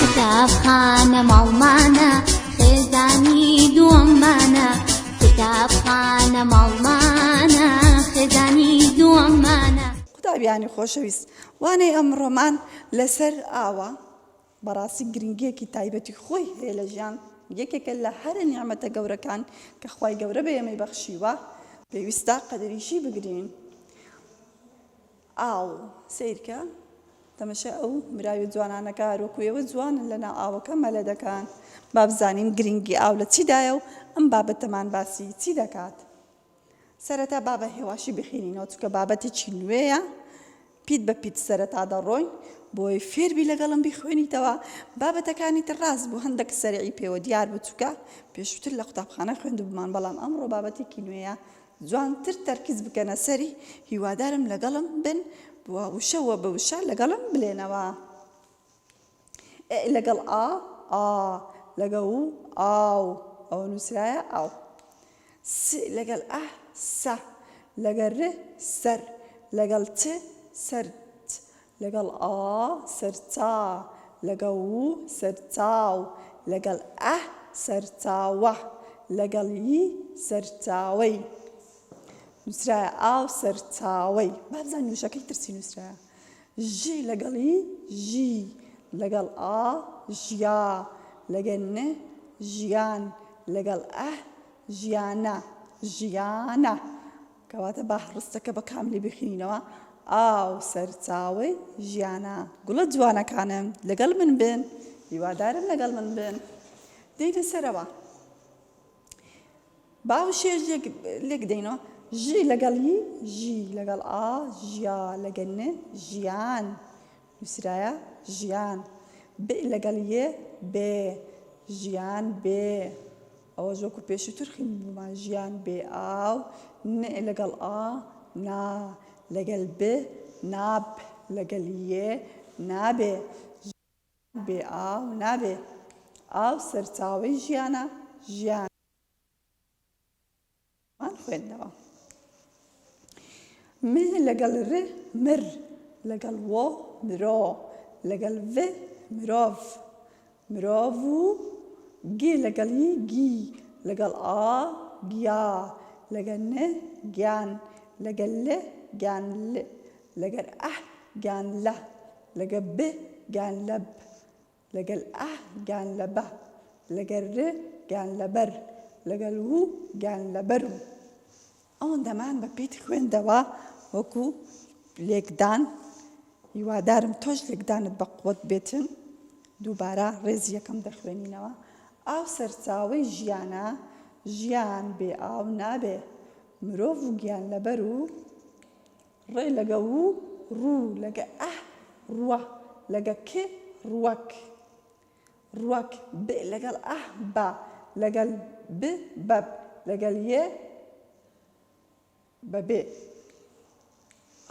کتابخانە ماڵمانە خێزانی دووەممانە کتابخانە ماڵمانە خێزانی دووەممانە قوتابیانی خۆشەویست وانەی ئەمڕۆمان لەسەر ئاوە بەڕاستی گرنگیەکی تایبەتی خۆی هەیە لە ژیان یەکێکە لە هەرە نیعممەتە گەورەکان کە خی گەورە بە ئێمەی بەخشیوە پێویستە قەدریشی بگرین ئاو سەیرکە تەمەشای ئەو مراوی جوانانە کە هەروەکو ئێوە جوانن لەناو ئاوەکە مەلە دەکەن. با بزانین گرنگی ئاو لە چیدایە و ئەم بابەتەمان باسی چی دەکات؟ سەرەتا با بە هێواشی بخینینەوە چونکە بابەتێکی نوێیە پیت بە پیت سەرەتا دەڕۆین بۆی فێربی لەگەڵم بیخوێنیتەوە بابەتەکانی تر ڕاست بوو هەندێک سەرعی پێوە دیار بچووکە پێشووتر لە قوتابخانە خوێندبمان بەڵام ئەمڕۆ بابەتێکی نوێیە جوانتر تەرکیز بکەنە سەری هیوادارم لەگەڵم بن و وشە وە بە وشە لەگەڵم بلێنەوە ئێ لەگەڵ ئا ئا لەگە و ئاو ئەوە نووسرایە ئاو س لەگەڵ ئە سە لەگە ر سەر لەگەڵ چ سەر لەگەڵ ئا سەرچا لەگەڵ و سەرچاو لەگەڵ ئە سەرچاوە لەگەڵ ی سەرچاوەی نووسرایە ئاو سەرچاوەی با بزانین وشەکەی تر چی نووسرایە ژی لەگەڵ ی ژی لەگەڵ ئا ژیا لەگەل ن ژیان لەگەڵ ئە ژیانە ژیانە کەواتە با هەڕستەکە بە کاملی بخینینەوە، ئاو سەرچاوەی ژیانە. گوڵە جوانەکانم لەگەڵ من بن، هیوادارم لەگەڵ من بن. دێینە سەرەوە. با وشەیەش لێک دێینەوە. ژی لەگەڵ هی، ژی لەگەڵ ئا، ژیا لەگەڵ ن، ژیان. نووسرایە ژیان. بئ لەگەڵ یێ، بێ. ژیان بێ. ئەوەش وەکو پێشوتر خویندبومان ژیان بێ ئاو ن لەگەڵ ئا نا لەگەل ب نا ب لەگەل ی نابێ ژیان بێ ئاو نابێ ئاو سەرچاوەی ژیانە ژیان. مان خوێندنەوە م لەگەڵ ر مر لەگەڵ و مرۆ لەگەڵ ڤ مرۆڤ مرۆڤ و گ لەگەڵ ی گی لەگەڵ ئا گیا لەگەڵ ن گیان لەگەڵ ل گیان ل لەگەر ئە گیان لە لەگە ب گیان لەب لەگەل ئه گان لە بە. لەگەر ر گان لە بەر. لەگەل و گان لە بەر و. ئەوەندەمان بە پیت خوێندەوە وەکو لێکدان، هیوادارم تۆش لێکدانت بە قوەت بێتن. دووبارە ڕێزی یەکەم دەخوێنینەوە. ئاو سەرچاوەی ژیانە، ژیان بێ ئاو نابێ. مرۆڤ و گیانلەبەر و. ڕێ لەگە و ڕوو لەگە ئە ڕوە لەگە ک ڕوەک ڕوەک ب لەگەڵ ئە بە لەگەل ب بەب لەگەل یێ بەبێ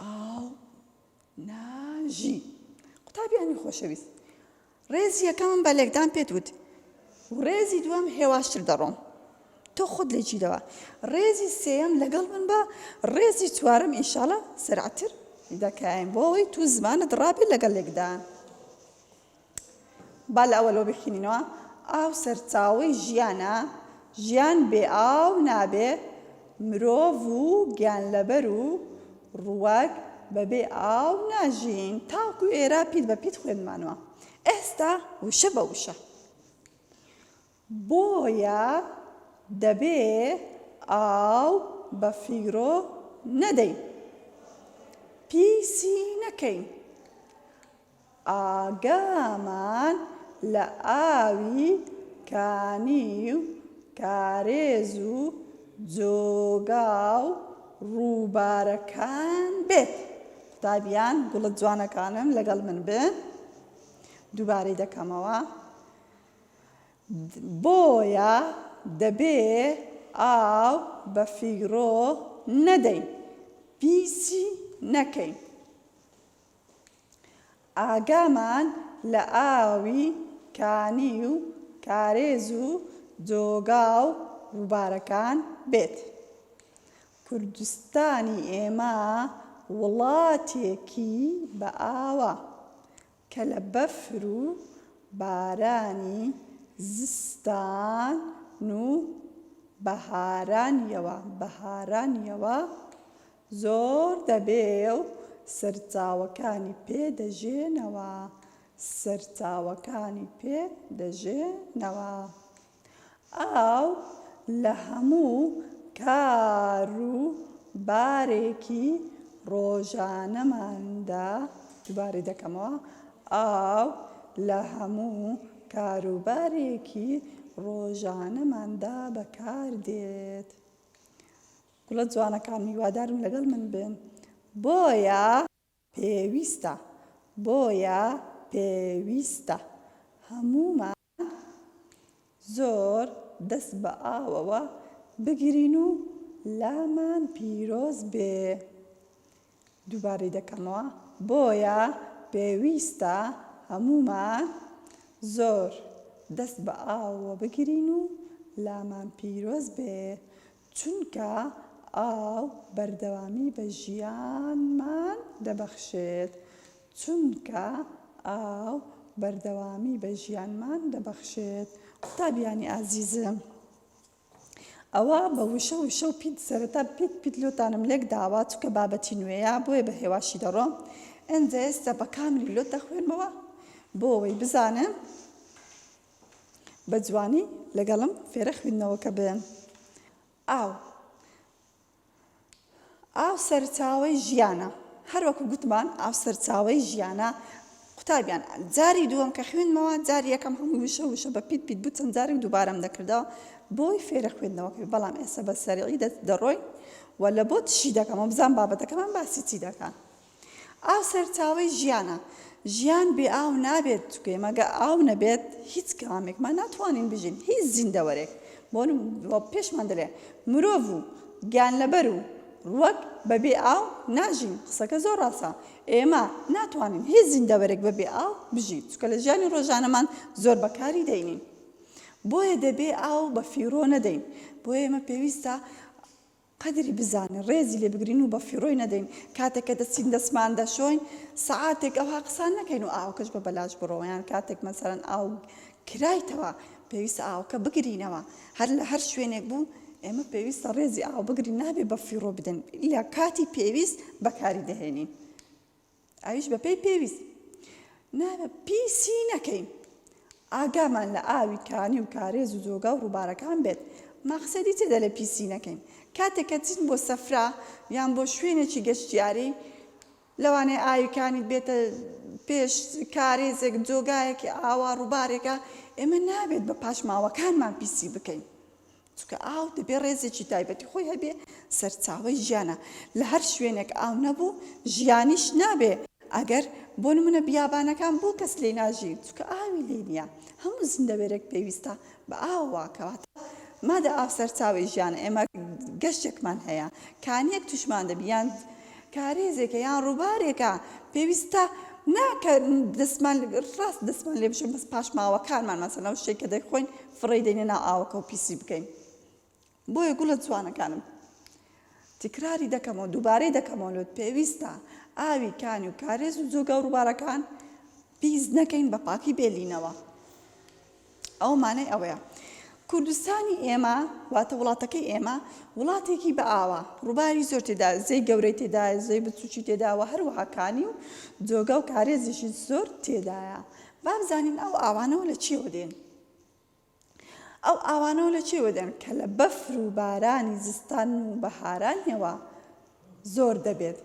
ئاو ناژی قوتابیانی خۆشەویست ڕێزی یەکەمم بە لێکدان پێت وت و ڕێزی دووەم هێواشتر دەڕۆم تۆ خۆت لێ گیرەوە ڕێزی سێیەم لەگەڵ من بە ڕێزی چوارم ئینشاڵە سەرعتر دەکاین بۆ ئەوەی تو زمانت ڕابێت لەگەڵ لێکدان با لە ئەوە لۆ بخینینەوە ئاو سەرچاوی ژیانە ژیان بێ ئاو نابێ مرۆڤ و گیان لەبەر و ڕووەک بەبێ ئاو ناژین تاوکو ئێرە پیت بە پیت خوێندمانوە ئێستا وشە بە وشە بۆیە دەبێ ئاو بە فیرۆ نەدەین پیسی نەکەین ئاگامان لە ئاوی کانی و کارێز و جۆگا و ڕووبارەکان بێت. قوتابیان گوڵە جوانەکانم لەگەڵ من بن. دووبارەی دەکەمەوە. بۆیە دەبێ ئاو بە فیڕۆ نەدەین، پیسی نەکەین. ئاگامان لە ئاوی کانی و کارێز و جۆگا و ڕووبارەکان بێت. کوردستانی ئێمە وڵاتێکی بەئاوە کە لە بەفر و بارانی زستان و بەهارانیەوە زۆر دەبێ و سەرچاوەکانی پێ دەژێنەوە سەرچاوەکانی پێ دەژێنەوە ئاو لە هەموو کار و بارێکی ڕۆژانەماندا دووبارەی دەکەمەوە ئاو لە هەموو کار و بارێکی ڕۆژانەماندا بەکار دێت. گوڵە جوانەکان هیوادارم لەگەڵ من بن بۆیە. پێویستە بۆیە پێویستە هەموومان زۆر دەست بە ئاوەوە بگرین و لامان پیرۆز بێ دووبارەی دەکەمەوە، بۆیە پێویستە هەموومان زۆر دەست بە ئاوەوە بگرین و لامان پیرۆز بێ، چونکە ئاو بەردەوامی بە ژیانمان دەبەخشێت، چونکە ئاو بەردەوامی بە ژیانمان دەبەخشێت. قوتابیانی ئازیزم، ئەوا بە وشە وشە و پیت سەرەتا پیت پیت لۆتانم لێک داوە چونکە بابەتی نوێیە بۆیە بە هێواشی دەڕۆم ئەنجا ئێستا بە کاملی لۆت دەخوێنمەوە بۆ ئەوەی بزانن بە جوانی لەگەڵم فێرە خوێندنەوەکە بن ئاو ئاو سەرچاوەی ژیانە. هەروەکو گوتمان ئاو سەرچاوەی ژیانە. قوتابیان جاری دووەم کە خوێندمەوە جاری یەکەم هەموو وشە وشە بە پیت پیت بوو چەند جارێک دووبارەم دەکردەوە بۆی فێرە خوێندنەوە کرد بەڵام ئێستا بە سەرعی دەڕۆین و لە بۆ تشی دەکەمەوە بزان بابەتەکەمان باسی چی دەکات ئاو سەرچاوەی ژیانە، ژیان بێ ئاو نابێت، گوێمەگە ئاو نەبێت هیچ کامێکمان ناتوانین بژین، هیچ زیندەوەرێک، بۆ نموونە پێشمان دەلێ مرۆڤ و گیانلەبەر و ڕووەک بەبێ ئاو ناژین، قسەکە زۆر ڕاستە، ئێمە ناتوانین هیچ زیندەوەرێک بەبێ ئاو بژی، چونکە لە ژیانی ڕۆژانەمان زۆر بەکاری دەینین، بۆیە دەبێ ئاو بەفیڕۆ نەدەین، بۆیە ئێمە پێویستە. قەدری بزانن ڕێزی لێ بگرین و بە فیڕۆی نەدەین کاتێک کە دەچین دەستمان دەشۆین سەعاتێک ئەوها قسان نەکەین و ئاوکەش بە بەلاش بڕۆ یان کاتێک مەسەلەن ئاو کرایتەوە پێویستە ئاوکە بگرینەوە هەر لە هەر شوێنێک بوو ئێمە پێویستە ڕێزی ئاو بگرین نابێ بە فیڕۆ بدەن لە کاتی پێویست بەکاری دەهێنین ئەویش بەپێی پێویست نابە پیسی نەکەین ئاگامان لە ئاوی کانی و کارێز و جۆگا و ڕووبارەکان بێت مەقسەدی چێدە لە پیسی نەکەین کاتێک کە چین بۆ سەفرا یان بۆ شوێنێکی گەشتیاری لەوانەیە ئاویکانی بێتە پێش کارێزێک جۆگایەکی ئاوا ڕووبارێکە ئێمە نابێت بە پاشماوەکانمان پیسی بکەین چونکە ئاو دەبێ ڕێزێکی تایبەتی خۆی هەبێ سەرچاوەی ژیانە لە هەر شوێنێک ئاو نەبوو ژیانیش نابێ ئەگەر بۆ نمونە بیابانەکان بۆ کەس لێ ناژی چکە ئاوی لێ نییە هەموو زندەوێرێک پێویستە بە ئاواکەواتە مادە ئاو سەرچاوی ژیان ئێمە گەشتێکمان هەیە کانیەک توشمان دەبیان کارێزێکە یان ڕووبارێکە پێویستە ناکە دەستمان ڕاست دەستمان لێ بشم بەس پاشماوەکانمان مەسەنەو شتێک کە دەخۆین فڕێی دەینە ناو ئاوەکە و پیسی بکەین بۆیە گوڵە جوانەکانم تکراری دەکەمەوە دووبارەی دەکەمەوە لۆت پێویستە ئاوی کانی و کارێز و جۆگا و ڕووبارەکان پیس نەکەین بە پاکی بێلینەوە ئەو مانای ئەوەیە کوردستانی ئێمە واتە وڵاتەکەی ئێمە وڵاتێکی بە ئاوا ڕووباری زۆر تێدا زەی گەورەی تێدا زۆی بچوکی تێداوە هەروەهاکانی و جۆگا و کارێزیشی زۆر تێدایە بابزانین ئەو ئاوانەوە لە چیەوە دێن ئەو ئاوانەوە لە چێوە دێن کە لە بەفر و بارانی زستان و بەهارانیەوە زۆر دەبێت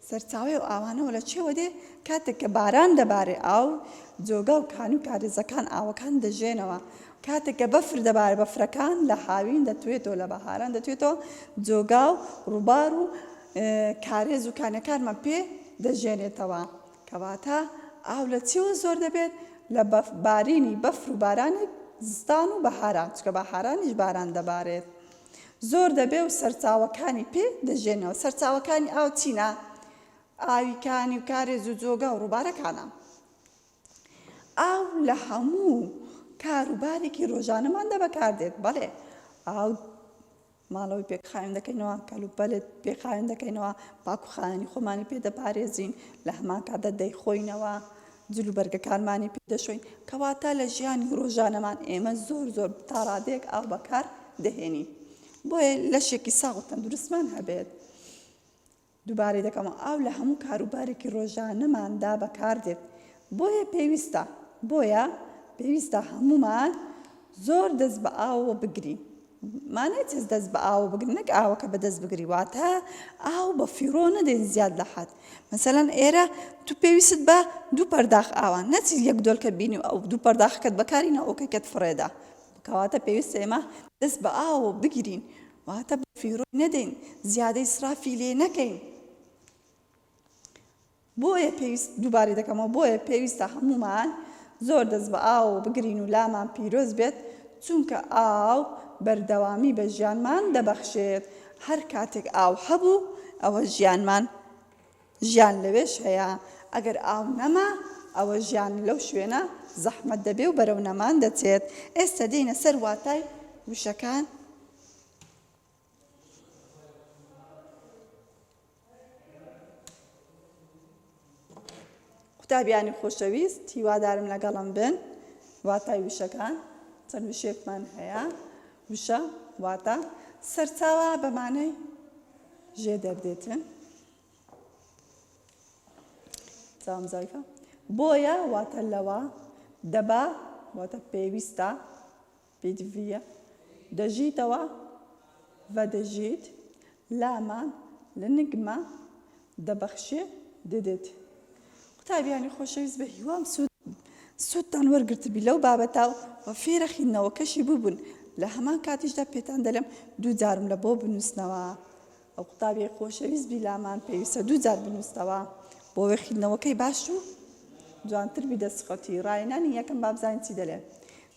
سەرچاوی و ئاوانەوە لە چێوە دێ کاتێک کە باران دەبارێ ئاو جۆگا و کان و کارێزەکان ئاوەکان دەژێنەوە کاتێک کە بەفر دەبارە بەفرەکان لە هاوین دەتوێتەوە لە بەهاران دەتوێتەوە جۆگا و ڕووبار و کارێز و کانەکانمان پێ دەژێنێتەوە کەواتە ئاو لە چیوە زۆر دەبێت؟ لە بەف، بارینی بەفر و بارانی زستان و بەهاران، چونکە بەهارانیش باران دەبارێت زۆر دەبێت و سەرچاوەکانی پێ دەژێنەوە، سەرچاوەکانی ئاو چینە؟ ئاوی کانی و کارێز و جۆگا و ڕووبارەکانە. ئاو لە هەموو کار و بارێکی ڕۆژانەماندا بەکاردێت، بەڵێ ئاو ماڵەوەی پێکخاوێن دەکەینەوە، کەلوپەلت پێخاوێن دەکەینەوە، پاک و خاوێنی خۆمانی پێ دەپارێزین، لە هەمان کاتدا دەیخۆینەوە، جل و بەرگەکانمانی پێ دەشۆین، کەواتە لە ژیانی ڕۆژانەمان ئێمە زۆر زۆر تا ڕادەیەک ئاو بەکار دەهێنین. بۆیە لەشێکی ساغ و تەندروستمان هەبێت. دووبارەی دەکەمەوە ئاو لە هەموو کارو بارێکی ڕۆژانەماندا بەکاردێت بۆیە پێویستە بۆیە پێویستە هەموومان زۆر دەست بە ئاوەوە بگرین مانای چیز دەست بە ئاوە بگرین نەک ئاوەکە بەدەست بگری واتە ئاو بە فیڕۆ نەدەین زیاد لە حەد مەسەلەن ئێرە تو پێویست بە دوو پەرداخ ئاوە نەچی یەک دۆلکە بینی و ئەو دوو پەرداخەکەت بەکاری نەوەکەکەت فڕێدا کەواتە پێویستە ئێمە دەست بە ئاوە بگیرین واتە بە فیڕۆی نەدەین زیادە ئیسرافی لێ نەکەین بۆیە پێویست دووبارەی دەکەمەوە بۆیە پێویستە هەمومان زۆر دەست بە ئاوەوە بگرین و لامان پیرۆز بێت چونکە ئاو بەردەوامی بە ژیانمان دەبەخشێت هەر کاتێک ئاو هەبوو ئەوە ژیانمان ژیان لەوێش هەیە، ئەگەر ئاو نەما، ئەوە ژیان لەو شوێنە زەحمەت دەبێ و بەرەو نەمان دەچێت. ئێستە دێینە سەر واتای وشەکان. قوتابیانی خۆشەویست، هیوادارم لەگەڵم بن. واتای وشەکان چەند وشێکمان هەیە. وشە واتە سەرچاوە بەمانەی ژێ دەردێتن. سلام زایفە بۆیە واتە لەوە دەبا واتە پێویستە پێدڤە دەژیتەوە بە دەژیت لامان لە نگمە دەبەخشێ دەدێت قوتابیانی خۆشەویست بە هیوام سوود سوودتان وەرگرتبی لەو بابەتا و بە فێرە خینەوەکەشی ببوون لە هەمان کاتیشدا پێتان دەلم دوو جارم لە بۆ بنووسنەوە ئەو قوتابیەی خۆشەویست بی لامان پێویستە دوو جار بنووستەوە بۆ وێ خویندنەوەکەی باش و جوانتر بی دەسخەتی ڕاینانی یەکەم بابزانین چی دەلێ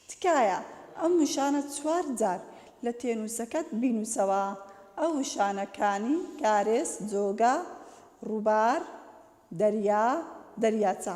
تکایە ئەم وشانە چوار جار لە تێنووسەکەت بینووسەوە ئەو وشانە کانی کارێس جۆگە ڕووبار دەریا دەریاچە.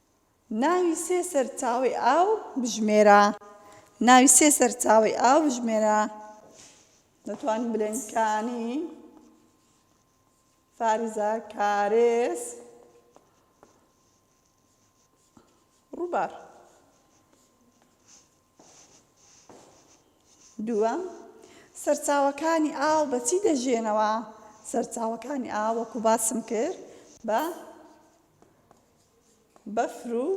ناوی سێ سەرچاوەی ئاو بژمێرە. ناوی سێ سەرچاوەی ئاو بژمێرە. دەتوانین بلێن کانی، فارزە، کارێز، ڕووبار. دووەم سەرچاوەکانی ئاو بە چی دەژێنەوە سەرچاوەکانی ئاو وەکو باسم کرد بە بەفر و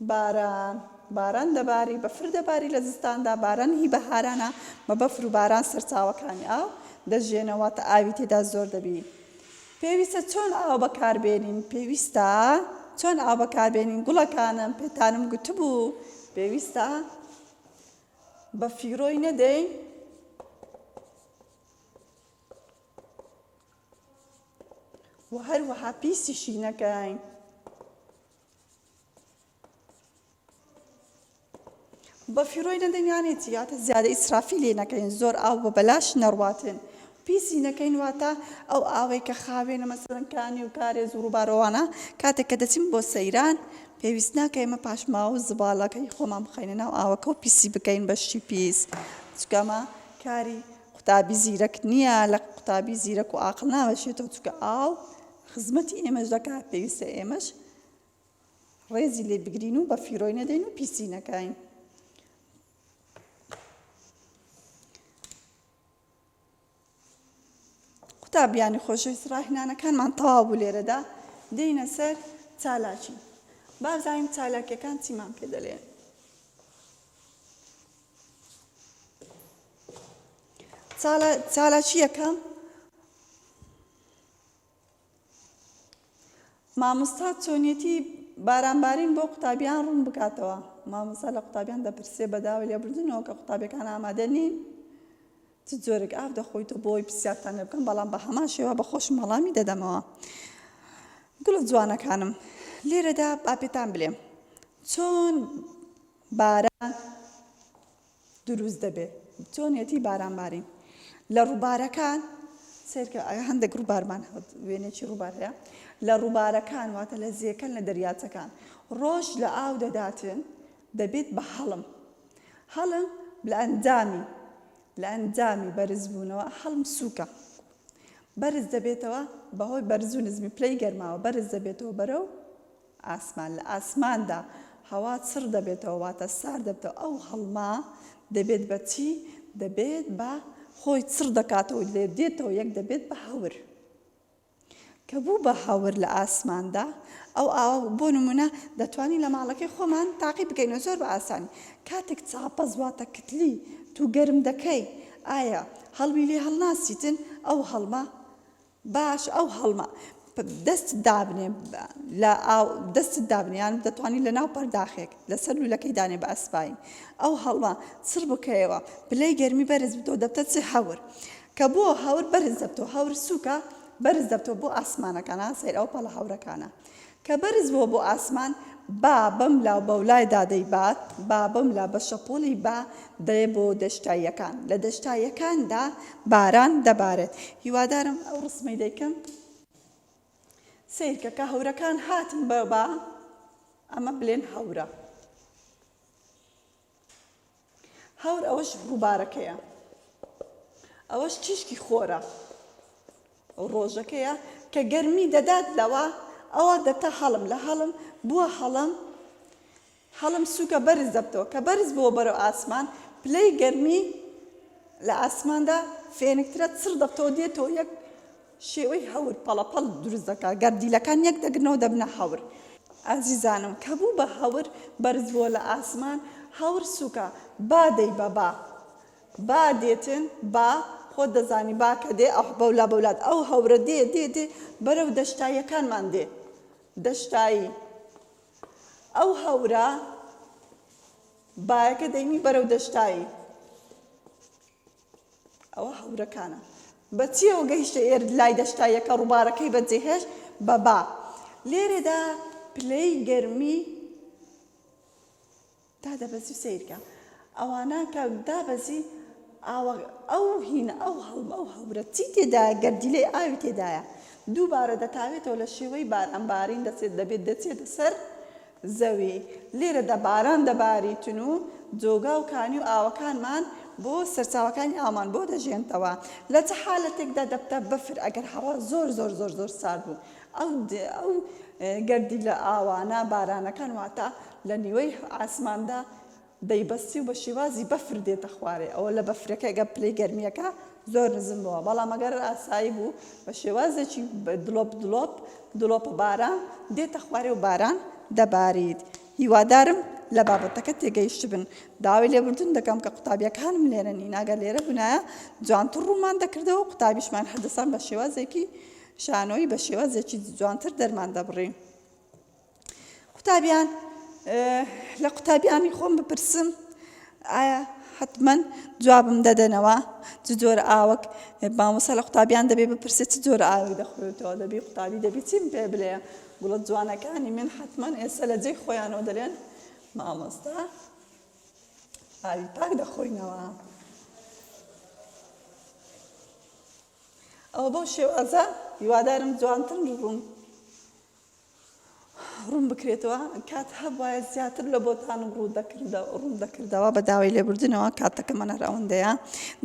باران باران دەباری بەفر دەباری لە زستاندا باران هی بەهارانە بە بەفر و باران سەرچاوەکانی ئاو دەژێنەوە تا ئاوی تێدا زۆر دەبی پێویستە چۆن ئاو بەکاربێنین پێویستە چۆن ئاو بەکاربێنین گوڵەکانم پێتانم گوتبوو پێویستە بە فیرۆی نەدەین و هەروەها پیسیشی نەکەین بە فیرۆی نەدەین یانێتی یاتە زیادە ئیسرافی لێ نەکەین زۆر ئاو بە بەلاش نەڕواتێن پیسی نەکەین واتە ئەو ئاوەی کە خاوێنە مەسەرەنکانی و کارێز و ڕووبارەوانە کاتێک کە دەچین بۆ سەیران پێویست ناکە ئێمە پاشماوە و زباڵەکەی خۆمان بخەینە ناو ئاوەکە و پیسی بکەین بەشی پیس چکەمە کاری قوتابی زیرەک نیە لە قوتابی زیرەک و ئاقڵ ناوەشێتەوە چونکە ئاو خزمەتی ئێمەش دەکا پێویستە ئێمەش ڕێزی لێ بگرین و بە فیرۆی نەدەین و پیسی نەکەین قوتابیانی خۆشەویست ڕاهنانەکانمان تەواو بوو لێرەدا دێینە سەر چالاکی بازانین چالاکیەکان چیمان پێ دەلێن چالاکییەکە مامۆستا چۆنیەتی باران بارین بۆ قوتابیان ڕوون بکاتەوە مامۆستا لە قوتابیان دەپرسێ بەداوە لێبردنەوە کە قوتابەکان ئامادە نین چ جۆرێک ئاف دەخۆیتە بۆی پرسیارتان لێ بکەم بەڵام بە هەمان شێوە بە خۆشم هەڵامی دەدەمەوە گوڵە جوانەکانم لێرەدا باپێتان بلێم چۆن باران دروست دەبێ چۆنیەتی باران بارین لە ڕووبارەکان سێرکە هەندێک ڕووبارمان وێنێکی ڕووبار هەیە لە ڕووبارەکان واتە لە زیێکەن لە دەریاچەکان ڕۆژ لە ئاو دەداتێن دەبێت بە هەڵم هەڵم لە ئەنجامی لە ئەنجامی بەرزبوونەوە هەڵم سووکە بەرز دەبێتەوە بەهۆی بەرزو نزمی پلەی گەرماوە بەرز دەبێتەوە بەرەو ئاسمان، لە ئاسماندا هەوا چڕ دەبێتەوە واتە سارد دەبتەوە، ئەو هەڵمە دەبێت بە چی؟ دەبێت بە خۆی چڕ دەکاتەوە و لێ دێتەوە یەک دەبێت بە هەور. کە بوو بە هەور لە ئاسماندا ئەو ئاوە بۆ نمونە دەتوانین لە ماڵەکەی خۆمان تاقی بکەینەوە زۆر بە ئاسانی کاتێک چاپەز واتە کتلی تو گەرم دەکەی ئایا هەڵمی لێ هەڵناسیتن ئەو هەڵمە باش ئەو هەڵمە دەستت دابنێ لە ئاو دەستت دابنێ یان دەتوانی لە ناو پەرداخێک لەسەر لولەکەی دانێ بە ئەسپایی ئەو هەڵمە چڕ بکەیەوە پلەی گەرمی بەرز بتەوە دەبتە چ هەور کە بۆ هەور بەرز دەبتەوە هەور سووکە بەرز دەبتەوە بۆ ئاسمانەکان ها سەیر ئەو پەڵە هەورەکانە کە بەرز بووە بۆ ئاسمان، با بەم لاو بەولایدا دەیبات، با بەم لا بە شەپۆڵی با دەێ بۆ دەشتاییەکان، لە دەشتاییەکاندا باران دەبارێت. هیوادارم ئەو ڕسمەی دەیکەم سەیرکە کە هەورەکان هاتن بە با، ئەمە بلێن هەورە. هاور ئەوەش ڕووبارەکەیە ئەوەش تیشکی خۆرە ڕۆژەکەیە کە گەرمی دەدات لەوە ئەوە دەتا هەڵم لە هەڵم بووە هەڵم هەڵم سووکە بەرز دەبتەوە کە بەرز بووە بەرەو ئاسمان پلەی گەرمی لە ئاسماندا فێنکترە چڕ دەبتەوە دێتەوە یەک شێوەی هەور پەڵەپەڵ دروست دەکات، گەر دیلەکان یەک دەگرنەوە دەبنە هەور. ئازیزانم کە بوو بە هەور بەرز بووە لە ئاسمان، هەور سووکە، با دەی بە با، با دێتن، با، خۆت دەزانی با کە دێ ئەح بەولا بەولا ئەو هەورە دێ دێ دێ بەرەو دەشتاییەکانمان دێ، دەشتایی، ئەو هەورە بایەکە دەینی بەرەو دەشتایی. ئەوە هەورەکانە. بە چییەوە گەیشتە ئێرد لای دەشتا یەکە ڕووبارەکەی بەجێهێشت بە با. لێرەدا پلەی گەرمی دادەبەزی و سەیرکە ئەوانە کە دابەزی ئاوە ئەو هینە ئەو هەڵم ئەو هەورە چی تێدا گەردیلەی ئاوی تێدایە دووبارە دەتاوێتەوە لە شێوەی باران بارین دەچێت دەبێت دەچێتە سەر زەوی، لێرەدا باران دەباریتن و جۆگا و کانی و ئاوەکانمان بۆ سەرچاوەکانی ئاومان بۆ دەژێنتەوە. لە چ حالەتێکدا دەبتە بەفر؟ ئەگەر هەوا زۆر زۆر زۆر زۆر سارد بوو، ئەو ئەو گەردیلە ئاوانە، بارانەکان، واتە لە نیوەی ئاسماندا دەیبەستی و بە شیوازی بەفر دێتە خوارێ ئەوە لە بەفرەکە گە پلەی گەرمیەکە زۆر نزم بوە بەڵام ئەگەر ئاسایی بوو بە شێوازێکی دڵۆپ دڵۆپ دڵۆپە باران دێتە خوارێ و باران دەباریت هیوادارم لە بابەتەکە تێگەیشتبن داوای لێبوردن دەکەم کە قوتابیەکانم لێرە نیناگە لێرە بنایە جوانتر ڕوومان دەکردەوە قوتابیشمان هەردەسان بە شێوازێکی شانۆی بە شێوازێکی جوانتر دەرمان دەبڕین قوتابیان لە قوتابیانی خۆم بپرسم ئایا حتمما جوابم دەدەنەوە چ جۆر ئاوەک مامۆسا لە قوتابیان دەبێ بپرسێت چ جۆر ئاوی دەخورێتەوە دەبی قوتابی دەبی چیم پێ بلێ گوڵە جوانەکانی من حتمما ئێستا لە جێی خۆیانەوە دەلێن مامۆستا ئاوی پاک دەخۆینەوە ئەوە بەو شێوازە هیوادارم جوانتر بوون ڕوونبکرێتەوە، کات هەبوایە زیاتر لە بۆتانم ڕووندەکردەوە، بە داوای لێبوردنەوە کاتەکەمان هەر ئەوەندەیە،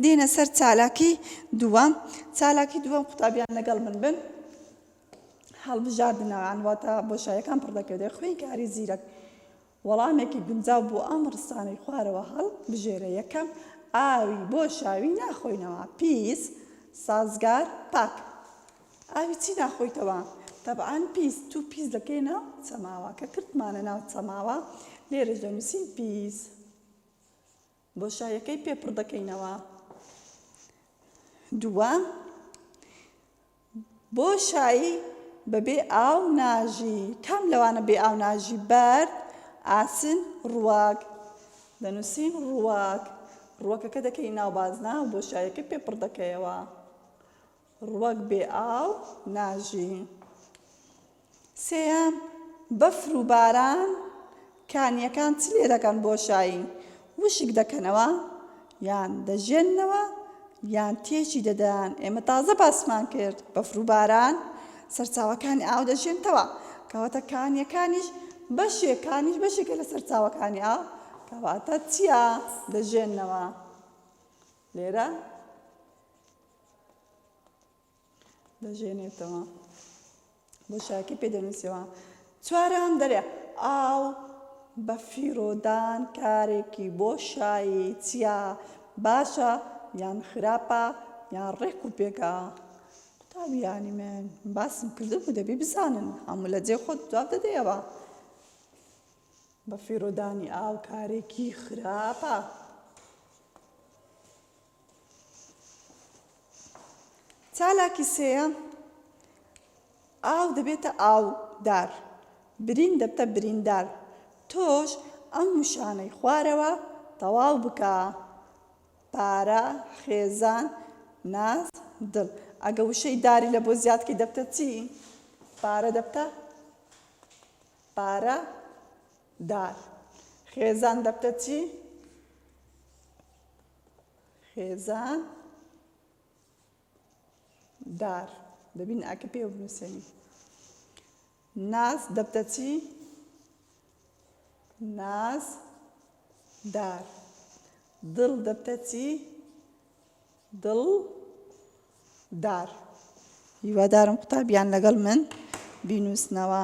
دێینە سەر چالاکی دووەم، چالاکی دووەم قوتابیان لەگەڵ من بن، هەڵبژاردنەوەیان واتە بۆشایەکان پڕدەکرێت، خوێندکاری زیرەک وەڵامێکی گونجاو بۆ ئەم ڕستانەی خوارەوە هەڵبژێرە، یەکەم، ئاوی بۆ شاوی ناخۆینەوە، پیس، سازگار، پاک. ئاوی چی ناخۆیتەوە؟ تەبعەن پیس، توو پیس دەکەی ناو چەماوە، کە کردمانە ناو چەماوە لێرەش دەنووسین پیس. بۆشایەکەی پێ پڕ دەکەینەوە. دووەم، بۆشای بەبێ ئاو ناژی. کام لەوانە بێ ئاو ناژی؟ بەرد، ئاسن، ڕووەک. دەنووسین ڕووەک. ڕووەکەکە دەکەی ناو بازنە و بۆشایەکەی پێ پڕ دەکەیەوە. ڕووەک بێ ئاو ناژی. سێیەم، بەفر و باران کانییەکان چ لێ دەکەن بۆشایی وشک دەکەنەوە یان دەژێننەوە یان تێکی دەدەن ئێمە تازە باسمان کرد بەفر و باران سەرچاوەکانی ئاو دەژێنتەوە کەواتە کانیەکانیش بەشێکانیش بەشێکە لە سەرچاوەکانی ئاو کەواتە چییە دەژێنەوە لێرە دەژێنێتەوە بۆ شاکی پێ دەنووسەوە چوارەم دەرێ ئاو بە فیرۆدان کارێکی بۆ شایی چیا باشە یان خراپە یان ڕێک و پێکە قوتابیانی من باسم کردن و دەبی بزانن هەموو لە جێ خۆت جواب دەدەیەوە بە فیرۆدانی ئاو کارێکی خراپە چالاکی سێیەم، ئاو دەبێتە ئاودار، برین دەبتە بریندار، تۆش ئەم وشانەی خوارەوە تەواو بکە، پارە، خێزان، ناز، دڵ. ئەگە وشەی داری لە بۆ زیاد کەی دەبتە چی؟ پارە دەبتە پارە دار. خێزان دەبتە چی؟ خێزان دار دەبین ئاکە پێوە بنووسێنی ناز دەبتە چی ناز دار دڵ دەبتە چی دڵ دار هیوادارم قوتابیان لەگەڵ من بینووسنەوە